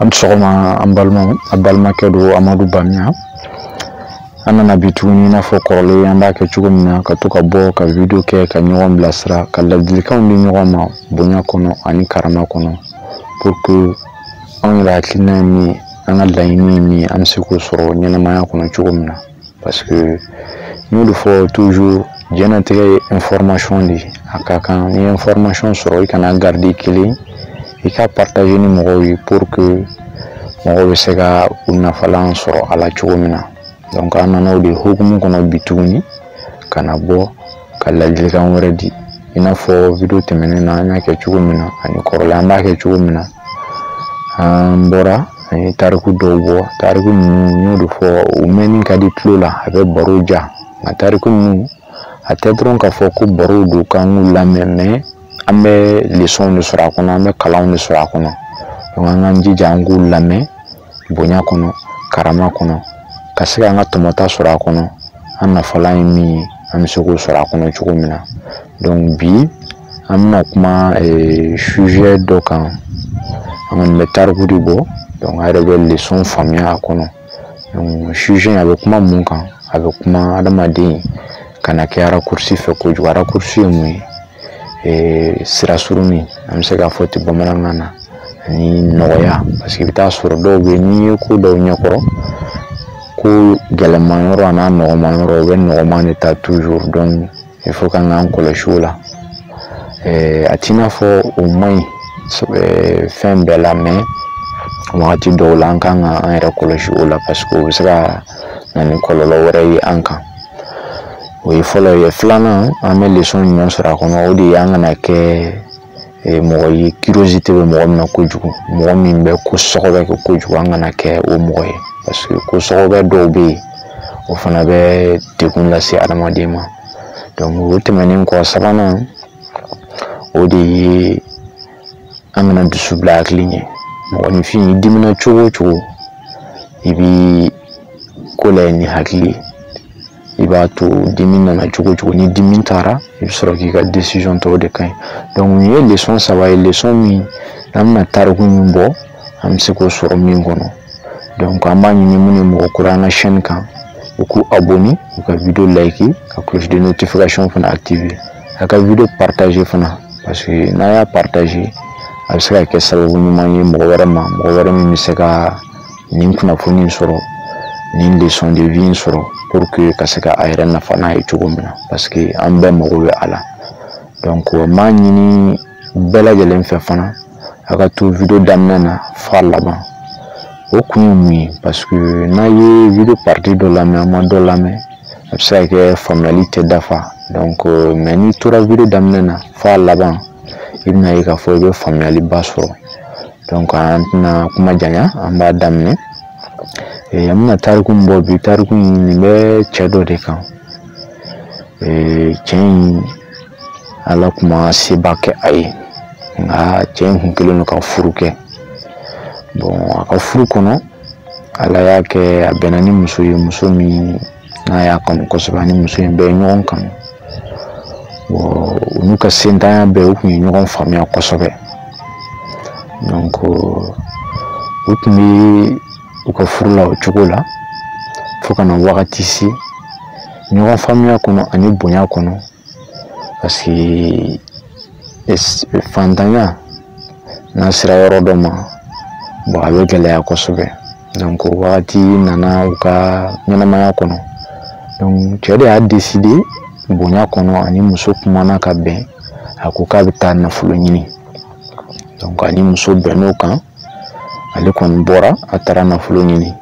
a ni sɔgɔma an balimaw a balimakɛ don amadu bamiya an nana bi tuguni i n'a fɔ kɔrɔlen an b'a kɛ cogo min na ka to ka bɔ ka video kɛ ka ɲɔgɔn bilasira ka ladilikanw di ɲɔgɔn ma bonya kɔnɔ ani karama kɔnɔ pour que anw yɛrɛ hakilina ye min ye an ka laɲini ye min ye an bɛ se k'o sɔrɔ ɲɛnamaya kɔnɔ cogo min na parce que n y'o de fɔ toujours diɲɛnatigɛ ye information de ye a ka kan n'i ye information sɔrɔ i kan'a garder i kelen i k'a partager ni mɔgɔw ye pour que mɔgɔw bɛ se ka u nafalan sɔrɔ a la cogo min na donc an nana o de hukumu kɔnɔ bi tuguni ka na bɔ ka ladilikan wɛrɛ di i n'a fɔ video tɛmɛnen na an y'a kɛ cogo min na ani kɔrɔlen an b'a kɛ cogo min na an bɔra an ye tariku dɔw bɔ tariku ninnu n y'o de fɔ u mɛnni ka di tulo la a bɛ baro diya nka tariku ninnu a tɛ dɔrɔn k'a fɔ ko barow don k'an k'u lamɛn mais an bɛ lesɔnw de sɔrɔ a kɔnɔ an bɛ kalanw de sɔrɔ a kɔnɔ an k'an jija an k'u lamɛn bonya kɔnɔ karama kɔnɔ ka se k'an ka tɔmɔta sɔrɔ a kɔnɔ an nafalan ye min ye an bɛ se k'o sɔrɔ a kɔnɔ cogo min na donc bi an bɛna kuma eh, sujet dɔ kan an kɔni bɛ tariku de bɔ donc a yɛrɛ bɛ leçon faamuya a kɔnɔ donc sujet a bɛ kuma mun kan a bɛ kuma adamaden kana kɛ raccourci fɛ kojugu raccourci ye mun ye ee sira surunni an bɛ se k'a fɔ ten bamanankan na ani nɔgɔya parce que i bɛ taa sɔrɔ dɔw bɛ yen n'i ye ko da u ɲɛkɔrɔ ko gɛlɛman yɔrɔ an'a nɔgɔman yɔrɔ u bɛ nɔgɔman de ta toujours donc il faut k'an k'an kɔlɔsi o la ee a t'i n'a fɔ o man ɲi fɛn bɛɛ la mais wagati dɔw la an kan ka an yɛrɛ kɔlɔsi o la parce que o bɛ se ka na ni kɔlɔlɔ wɛrɛ ye an kan o ye fɔlɔ ye filanan an bɛ lesɔn ɲuman sɔrɔ a kɔnɔ o de ye an kana kɛ eh, mɔgɔ ye curiosité bɛ mɔgɔ min na kojugu mɔgɔ min bɛ ko sɔgɔbɛ kɛ kojugu an kana kɛ o mɔgɔ ye parce que ko sɔgɔbɛ dɔw bɛ yen o fana bɛ degun lase adamaden ma donc o tɛmɛnen kɔ sabanan o de ye an kana dusu bila hakili ɲɛ mɔgɔninfin i dimina cogo o cogo i bi ko layɛ ni hakili ye i b'a to dimi nana cogo o cogo ni dimi taara i bɛ sɔrɔ k'i ka décision ta o de ka ɲi donc nin ye lesɔn saba ye lesɔn min n'an bɛna tariku min bɔ an bɛ se k'o sɔrɔ min kɔnɔ donc an b'a ɲini minnu ye mɔgɔ kura an ka chaîne kan u k'u abonner u ka video like ka cloche de notification fana activer a ka video partager fana parce que n'a y'a partager a bɛ se ka kɛ sababu ɲuman ye mɔgɔ wɛrɛ ma mɔgɔ wɛrɛ min bɛ se ka nin kunnafoni sɔrɔ nin leçon de vie sɔrɔ pour que ka se ka a yɛrɛ nafa n'a ye cogo min na parce que an bɛɛ mago bɛ a la donc n b'a ɲini bɛɛ lajɛlen fɛ fana a ka to video daminɛ na f'a laban o kun ye mun ye paseke n'a ye video parti dɔ lamɛn a ma dɔ lamɛn a bɛ se ka kɛ faamuyali tɛ dafa donc mɛ n'i tora video daminɛ na f'a laban i bɛna ye k'a fɔ i bɛ faamuyaliba sɔrɔ donc an tɛna kuma janya an b'a daminɛ Eh, an bɛna tariku min bɔ bi tariku in nin bɛ cɛ dɔ de kan eh, cɛ in ala kun ma seba kɛ a ye nka cɛ in kun kelen don ka furu kɛ bɔn a ka furu kɔnɔ ala y'a kɛ a bɛnna ni muso ye muso min n'a y'a kanu kosɛbɛ a ni muso in bɛɛ ye ɲɔgɔn kanu bɔn u n'u ka sentanya bɛɛ u kun ye ɲɔgɔn faamuya kosɛbɛ donc u tun bɛ u ka furu la o cogo la fo ka na wagati se ɲɔgɔn faamuya kɔnɔ ani bonya kɔnɔ parce que fantanya n'a sera yɔrɔ dɔ ma bon a bɛ gɛlɛya kosɛbɛ donc o wagati nana u ka ɲɛnamaya kɔnɔ donc cɛ de y'a deside bonya kɔnɔ a ni muso kumana ka bɛn a ko k'a bɛ taa nafolo ɲini donc a ni muso bɛnn'o kan ale kɔni bɔra a taara nafolo ɲini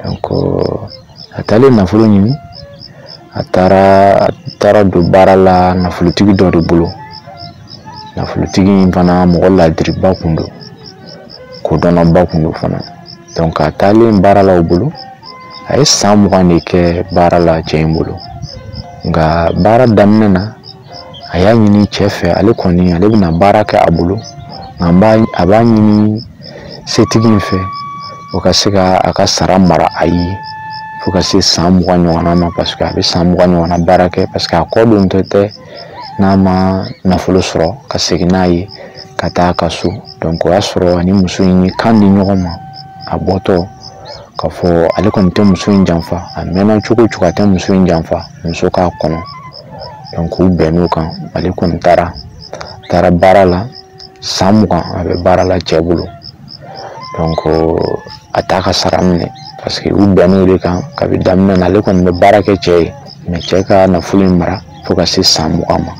donc a taalen nafolo ɲini a taara a taara don baara la nafolotigi dɔ de bolo nafolotigi in fana mɔgɔ laadiriba kun don kodɔnnaba kun don fana donc a taalen baara la o bolo a ye san mugan de kɛ baara la cɛ in bolo nka baara daminɛ na a y'a ɲini cɛ fɛ ale kɔni ale bɛna baara kɛ a bolo nka n b'a a b'a ɲini setigi in fɛ o ka se ka a ka sara mara a ye fo ka se san mugan ɲɔgɔnna ma paseke a bɛ san mugan ɲɔgɔnna baara kɛ paseke a kɔ don tɛ tɛ n'a ma nafolo sɔrɔ ka segin n'a ye ka taa a ka so donc o y'a sɔrɔ a ni muso in ye kan di ɲɔgɔn ma a bɔtɔ k'a fɔ ale kɔni tɛ muso in janfa a mɛnna cogo o cogo a tɛ muso in janfa muso k'a kɔnɔ k'u bɛnn'o kan ale kɔni taara a taara baara la san mugan a bɛ baara la cɛ bolo a t'a ka sara minɛ paseke u bɛnn'o de kan kabi daminɛ na ale kɔni bɛ baara kɛ cɛ ye mɛ cɛ ka nafolo in mara fo ka se san mugan ma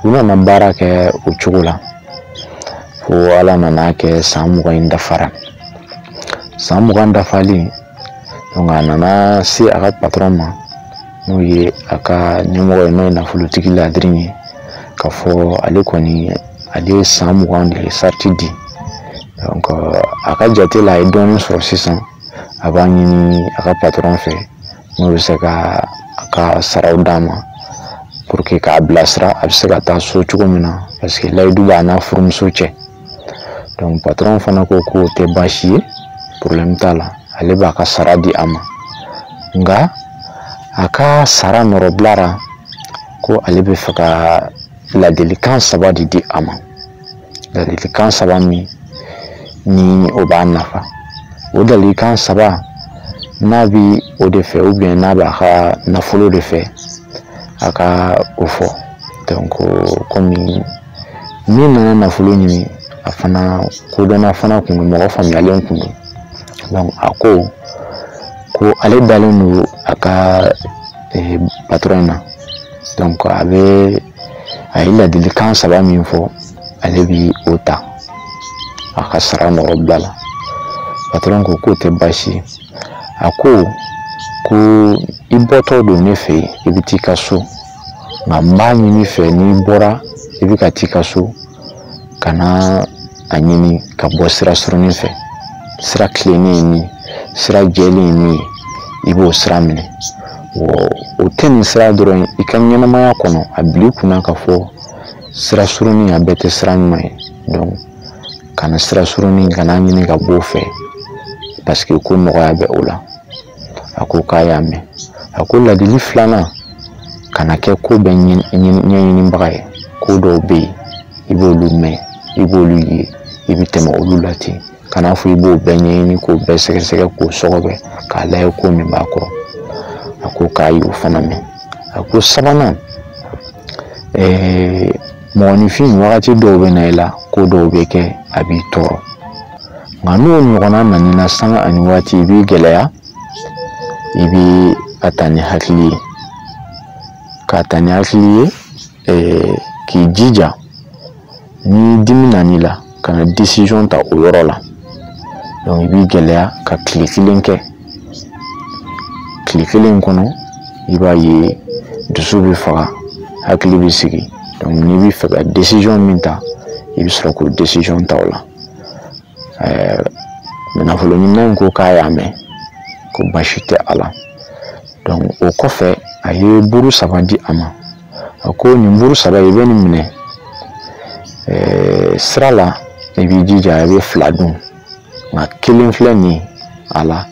u nana baara kɛ o cogo la fo ala nan'a kɛ san mugan in dafara san mugan dafalen a nana se a ka patɔrɔn ma n'o ye a ka ɲɛmɔgɔ ye n'o ye nafolotigi ladiri ye k'a fɔ ale kɔni ale ye san mugan de ye sarati di a ka jate la a ye dɔɔnin sɔrɔ sisan a b'a ɲini a ka patɔrɔn fɛ n'o bɛ se ka a ka saraw d'a ma k'a bilasira a bɛ se ka taa so cogo min na paseke layidu b'a n'a furumuso cɛ donc patron fana ko k'o tɛ baasi ye problème t'a la ale b'a ka sara di a ma nka a ka sara nɔrɔbila la ko ale bɛ fɛ ka ladilikan saba de di a ma ladilikan saba min ni o b'a nafa o ladilikan saba n'a bi o de fɛ ou bien n'a b'a ka nafolo de fɛ a ka o fɔ donc komi min nana nafolo ɲini a fana kodɔnna fana kun don mɔgɔ faamuyalen kun don a ko ko ale dalen don a ka eh, patɔrɔn na dɔnku a ye ladilikan saba min fɔ ale bi o ta a ka sara nɔrɔbila la patɔrɔn ko k'o tɛ baasi ye a ko ko i bɔtɔ don ne fɛ yan i bɛ t'i ka so nka n b'a ɲini i fɛ n'i bɔra i bɛ ka t'i ka so kana a ɲini ka bɔ sira surunin fɛ sira tilennen ye min sira jɛlen ye min i b'o sira minɛ o tɛ nin sira dɔrɔn i ka ɲɛnamaya kɔnɔ a bil'i kun na k'a fɔ sira surunin a bɛɛ tɛ sira ɲuman ye kana sira surunin kan'a ɲini ka b'o fɛ paseke ko nɔgɔya bɛ o la a ko k'a y'a mɛn a ko ladili filanan kana kɛ ko bɛɛ ɲɛɲinibaga ye ko dɔw bɛ yen i b'olu mɛn i b'olu ye i bɛ tɛmɛ olu la ten kan'a fɔ i b'o bɛɛ ɲɛɲini k'o bɛɛ sɛgɛsɛgɛ k'o sɔgɔbɛ k'a layɛ ko min b'a kɔrɔ a ko k'a y'o fana mɛn a ko sabanan ɛɛ mɔgɔninfin wagati dɔw bɛ na i la ko dɔw bɛ kɛ a b'i tɔɔrɔ nka n'o ɲɔgɔnna nan'i na sanga ani waati i b'i gɛlɛya i bɛ a ta ni hakili ye k'a ta ni hakili ye k'i jija ni dimi nana i la kana desizɔn ta o yɔrɔ la dɔnku i b'i gɛlɛya ka tile kelen kɛ tile kelen kɔnɔ i b'a ye dusu bɛ faga hakili bɛ sigi dɔnku n'i bɛ fɛ ka desizɔn min ta i bɛ sɔrɔ k'o desizɔn ta o la ɛɛ nafoloɲinina in ko k'a y'a mɛn ko baasi tɛ a la dɔnku o kɔfɛ a ye buru saba di a ma a ko nin buru saba i bɛ nin minɛ eh, sira la i b'i jija i bɛ fila dun nka kelen filɛ nin ye a la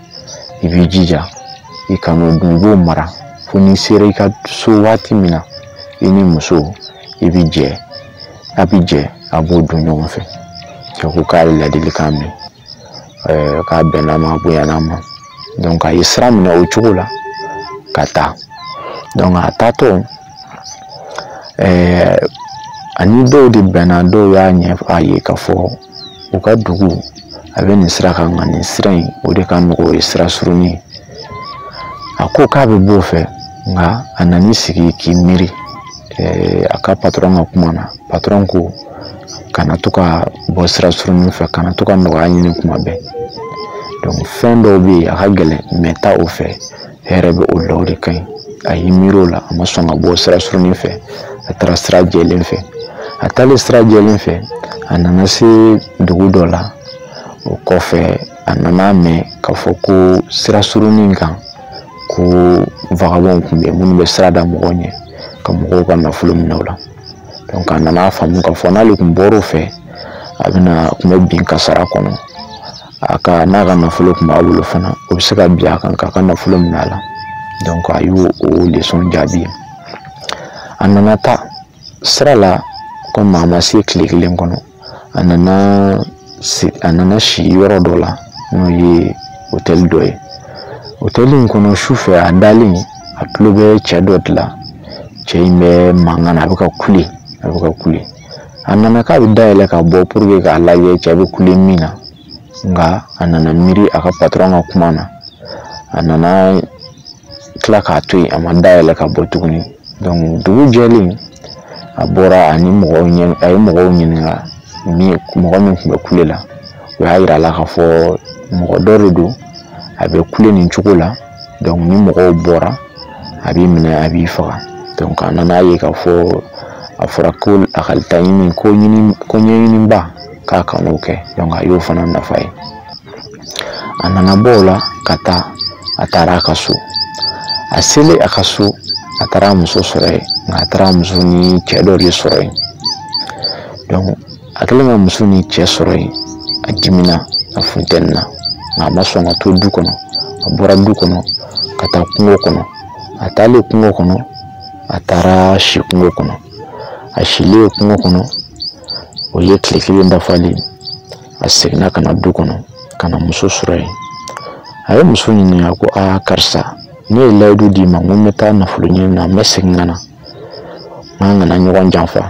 i b'i jija i kan'o dun i b'o mara fo n'i sera i ka so waati min na i ni muso i bi jɛ a bi jɛ a b'o dun ɲɔgɔn fɛ cɛ ko k'a ye ladilikan mɛn k'a bɛnna ma bonyana ma donc a ye sira minɛ o cogo la ka taa donc a taatɔ a ni dɔw de bɛnna dɔw y'a ɲɛfɔ a ye k'a fɔ u ka dugu a bɛ nin sira kan nka nin sira in o de ka nɔgɔn o ye sira surunin ye a ko k'a bɛ b'o fɛ nka a nan'i sigi k'i miiri eh, a ka patɔrɔn ka kuma na patɔrɔn ko kana to ka bɔ sira surunnin fɛ kana to ka nɔgɔya ɲini tuma bɛɛ donc fɛn dɔw bɛ yen a ka gɛlɛn mais taa o fɛ hɛrɛ bɛ o la o de ka ɲi a y'i miiri o la a ma sɔn ka bɔ sira surunnin fɛ a taara sira jɛlen fɛ a taalen sira jɛlen fɛ a nana se dugu dɔ la o kɔfɛ a nana mɛn k'a fɔ ko sira surunin kan ko vagabɔnw tun bɛ minnu bɛ sira da mɔgɔw ɲɛ ka mɔgɔw ka nafolo minɛ o la donc a nana faamu k'a fɔ n'ale tun bɔr'o fɛ a bɛna tun bɛ bin kasara kɔnɔ a ka n'a ka nafolo tun b'a bolo fana o bɛ se ka bin a kan k'a ka nafolo minɛ a la donc a y'o o lesɔn jaabi a nana taa sira la komi a ma se tile kelen kɔnɔ a nana si a nana si yɔrɔ dɔ la n'o ye otɛli dɔ ye otɛli in kɔnɔ sufɛ a dalen a tulo bɛ cɛ dɔ de la cɛ in bɛ mankan na a bɛ ka kule a bɛ ka kule a nana k'a bɛ da yɛlɛ ka bɔ pour que k'a lajɛ cɛ bɛ kule min na nka a nana miiri a ka patɔrɔn ka kuma na a nana tila k'a to yen a ma da yɛlɛ ka bɔ tuguni dugu jɛlen a bɔra ani mɔgɔw ɲɛ a ye mɔgɔw ɲininka mɔgɔ min tun bɛ kule la o y'a yira a la k'a fɔ mɔgɔ dɔ de don a bɛ kule nin cogo la ni mɔgɔw bɔra a b'i minɛ a b'i faga a nana ye k'a fɔ a fɔra ko a ka laɲini ko ɲini ko ɲɛɲiniba k'a kan'o kɛ a y'o fana nafa ye a nana bɔ o la ka taa a taara a ka so a selen a ka so a taara muso sɔrɔ yen nka a taara muso ni cɛ dɔ de sɔrɔ yen a kɛlen ka muso ni cɛ sɔrɔ yen a dimina a funtenina nka a ma sɔn ka to du kɔnɔ a bɔra du kɔnɔ ka taa kungo kɔnɔ a taalen kungo kɔnɔ a taara si kungo kɔnɔ a silen kungo kɔnɔ o ye tile kelen dafalen a seginna ka na du kɔnɔ ka na muso sɔrɔ yen a ye muso ɲininka ko aa karisa ne ye layidu d'i ma n ko n bɛ taa nafolo ɲini na n bɛ segin ka na n'an kana ɲɔgɔn janfa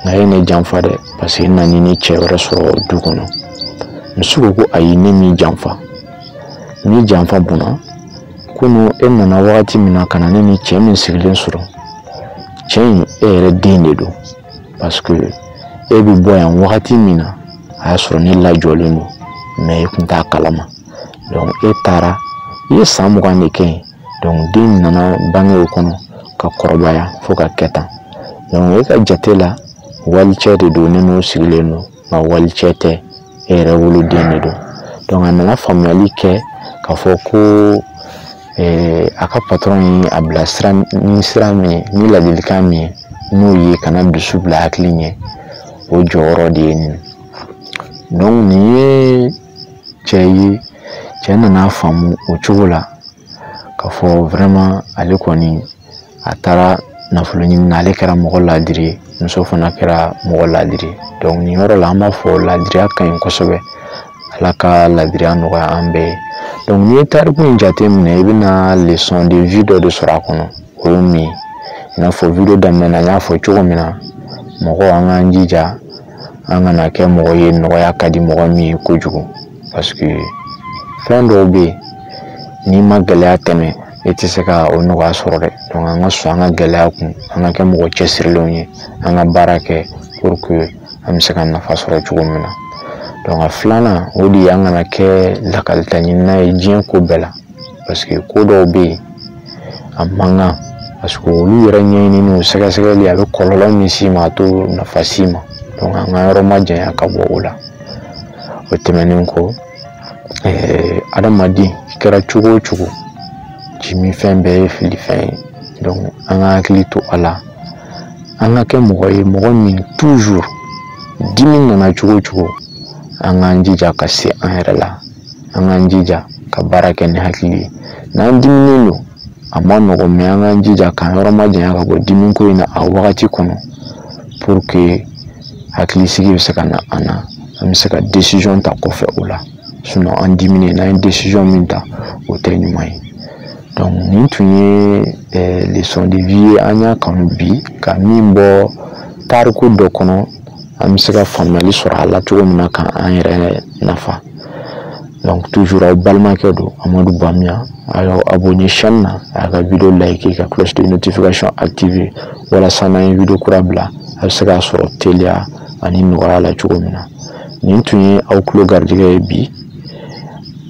nka e ye ne janfa dɛ paseke n nan'i ni cɛ wɛrɛ sɔrɔ du kɔnɔ muso ko ko ayi ne m'i janfa ni janfa bɔnna kunu e nana wagati min na ka na ne ni cɛ min sigilen sɔrɔ cɛ in e yɛrɛ den de don parce que e bɛ bɔ yan wagati min na a y'a sɔrɔ ne lajɔlen don mɛ e tun t'a kalama donc e taara i ye san mugan de kɛ yen donc den nana bange o kɔnɔ ka kɔrɔbaya fo ka kɛ tan donc e ka jate la walicɛ de don ne n'o sigilen don nka walicɛ tɛ e yɛrɛ woloden de don donc a nana faamuyali kɛ k'a fɔ ko eh, a ka patɔrɔn ye a bilasira ni sira min ye ni ladilikan min ye n'o ye kana dusu bila hakili ɲɛ o jɔyɔrɔ de ye nin donc nin ye cɛ ye cɛ nana faamu o cogo la k'a fɔ vraiment ale kɔni a taara nafolo ɲini na ale kɛra mɔgɔ ladiri ye muso fana kɛra mɔgɔ ladiri ye donc nin yɔrɔ la an b'a fɔ ladiriya ka ɲi kosɛbɛ ala ka ladiriya nɔgɔya an bɛɛ ye donc n'i ye tariku in jate minɛ i bɛna leçon de vie dɔ de sɔrɔ a kɔnɔ o ye min ye i n'a fɔ video daminɛ na n y'a fɔ cogo min na mɔgɔ an k'an jija an kana kɛ mɔgɔ ye nɔgɔya ka di mɔgɔ min ye kojugu parce que fɛn dɔw bɛ yen n'i ma gɛlɛya tɛmɛ e tɛ se ka o nɔgɔya sɔrɔ dɛ donc an ka sɔn an ka gɛlɛya kun an ka kɛ mɔgɔ cɛsirilenw ye an ka baara kɛ pour que an bɛ se ka nafa sɔrɔ cogo min na donc a filanan o de ye an kana kɛ lakalita ɲinina ye diɲɛ ko bɛɛ la paseke ko dɔw bɛ yen a man kan paseke olu yɛrɛ ɲɛɲinini o sɛgɛsɛgɛli a bɛ kɔlɔlɔ min s'i ma a t'o nafa s'i ma an k'an yɔrɔ majanya ka bɔ o la o tɛmɛnen kɔ adamaden i kɛra cogo o cogo jiminfɛn bɛɛ ye filifɛn ye an ka hakili to a la an ka kɛ mɔgɔ ye mɔgɔ min dimi nana cogo o cogo an k'an jija ka se an yɛrɛ la an k'an jija ka baara kɛ ni hakili ye n'an diminen don a man nɔgɔ mɛ an k'an jija k'an yɔrɔ majanya ka bɔ dimi ko in na a wagati kɔnɔ pour que hakili sigi bɛ se ka na an na an bɛ se ka desizɔn ta kɔfɛ o la sinɔn an diminen n'an ye desizɔn min ta o tɛ ɲuman ye donc nin tun ye eh, leçon de vie ye an y'a kanu bi ka min bɔ tariku dɔ kɔnɔ an bɛ se ka faamuyali sɔrɔ a la cogo min na ka an yɛrɛ nafa donc toujours aw balimakɛ don amadu bamiya a y'aw abonné chaîne na a y'a ka video like ka cloche de notification activer walasa n'an ye video kura bila a bɛ se k'a sɔrɔ teliya ani nɔgɔya la cogo min na nin tun ye aw tulo garijɛgɛ ye bi